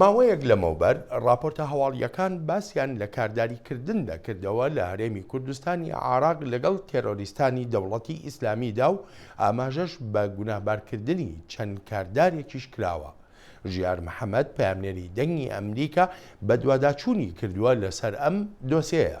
ماوەیەک لەمەوبەر ڕاپۆرتە هەواڵییەکان باسیان لە کارداری کردن دەکردەوە لە هەرێمی کوردستانی عاراق لەگەڵ تێرۆریستانی دەوڵەتی ئیسلامیدا و ئاماژەش بە گوناهبارکردنی چەند کاردارێکیش کراوە. ژیار محەمەد پەیامنێری دەنگی ئەمریکا بەدواداچوونی کردووە لەسەر ئەم دۆسێیە.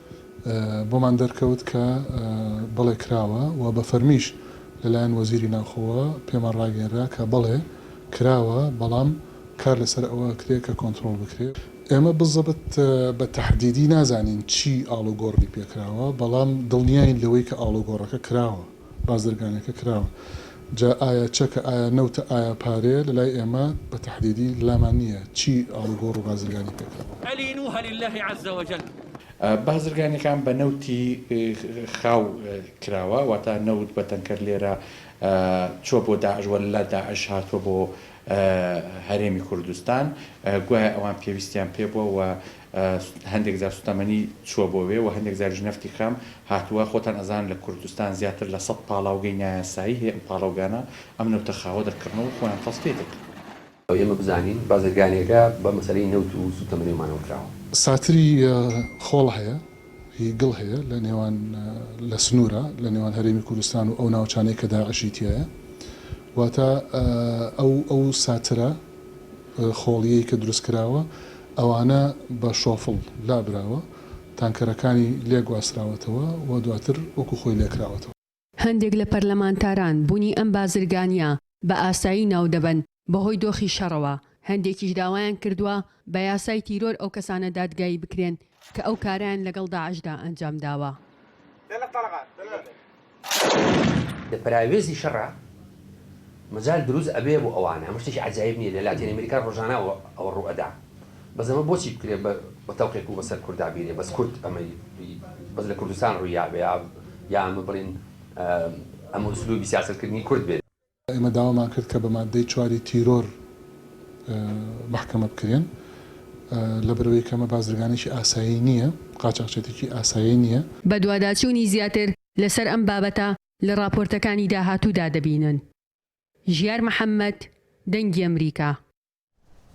بۆمان دەرکەوت کە بەڵێ کراوە و بە فەرمیش لەلایەن وەزیری ناوخۆوە پێمان ڕاگەیەنرا کە بەڵێ کراوە، بەڵام کار لەسەر ئەوە ئەکرێت کە کۆنترۆڵ بکرێت. ئێمە بزەبت بە تەحدیدی نازانین چی ئاڵوگۆڕنی پێکراوە، بەڵام دڵنیاین لەوەی کە ئاڵوگۆڕەکە کراوە. بازرگانیەکە کراوە جا ئایا چەکە ئایا نەوتە ئایا پارەیە لەلای ئێمە بە تەحدیدی لامان نییە چی ئاڵوگۆڕ و بازرگانی پێکراوە. الینوه للە عز وجل. بازرگانیەکان بە نەوتی خاو کراوە واتا نەوت بە تەنکەر لێرە چوە بۆ داعش وە لە داعش هاتوە بۆ هەرێمی کوردستان گوایە ئەوان پێویستیان پێبوە وە هەندێک جار سوتەمەنی چوە بۆ وێ و هەندێک جاریش نەفتی خام هاتوە خۆتان ئەزانن لە کوردستان زیاتر لە سەد پاڵاوگەی نایاسایی هەیە ئەم پاڵەوگانە ئەم نەوتە خاوە دەکڕنەوە و خۆیان تەسفیەی دەکەن. ئێمە بزانین بازرگانیەکە بە مەسەلەی نەوت و سوتەمەنیەوە مانەوە کراوە. ساتری خۆڵ هەیە. ی گڵ هەیە لە نێوان لە سنوورە لە نێوان هەرێمی کوردستان و ئەو ناوچانەی کە داعشی تیایە واتە ئەو ئەو ساترە خۆڵیەی کە دروست کراوە ئەوانە بە شۆفڵ لابراوە تانکەرەکانی لێ گواستراوەتەوە و دواتر وەکو خۆی لێکراوەتەوە. هەندێک لە پەرلەمانتاران بوونی ئەم بازرگانییە بە ئاسایی ناودەبەن بەهۆی دۆخی شەڕەوە، هەندێکیش داوایان کردووە بە یاسای تیرۆر ئەو کەسانە دادگایی بکرێن کە ئەو کارەیان لەگەڵ داعشدا ئەنجامداوە. لە پەراوێزی شەڕە مەجال دروست ئەبێ بۆ ئەوانە ئەمە شتێکی عەجایب نیە لە لاتین ئەمریکا ڕۆژانە ئەوە ڕوو ئەدا بەس ئەمە بۆچی بکرێ بە تەوقێک و بەسەر کوردا بیرێ بەس کورد ئەمەی بەس لە کوردستان ڕووی یا بێ یا ئەمە بڵێن ئەمە ئسلوبی سیاسەت کردنی کورد بێ. ئێمە داوامان کرد کە بە ماددەی چواری تیرۆر مەحکەمە بکرێن لەبەرئەوەی کە ئەمە بازرگانێکی ئاسایی نیە قاچاخچێتیی ئاسایی نیە. بەدواداچوونی زیاتر لەسەر ئەم بابەتە لە ڕاپۆرتەکانی داهاتوودا دەبینن. ژیار محەمەد، دەنگی ئەمریکا.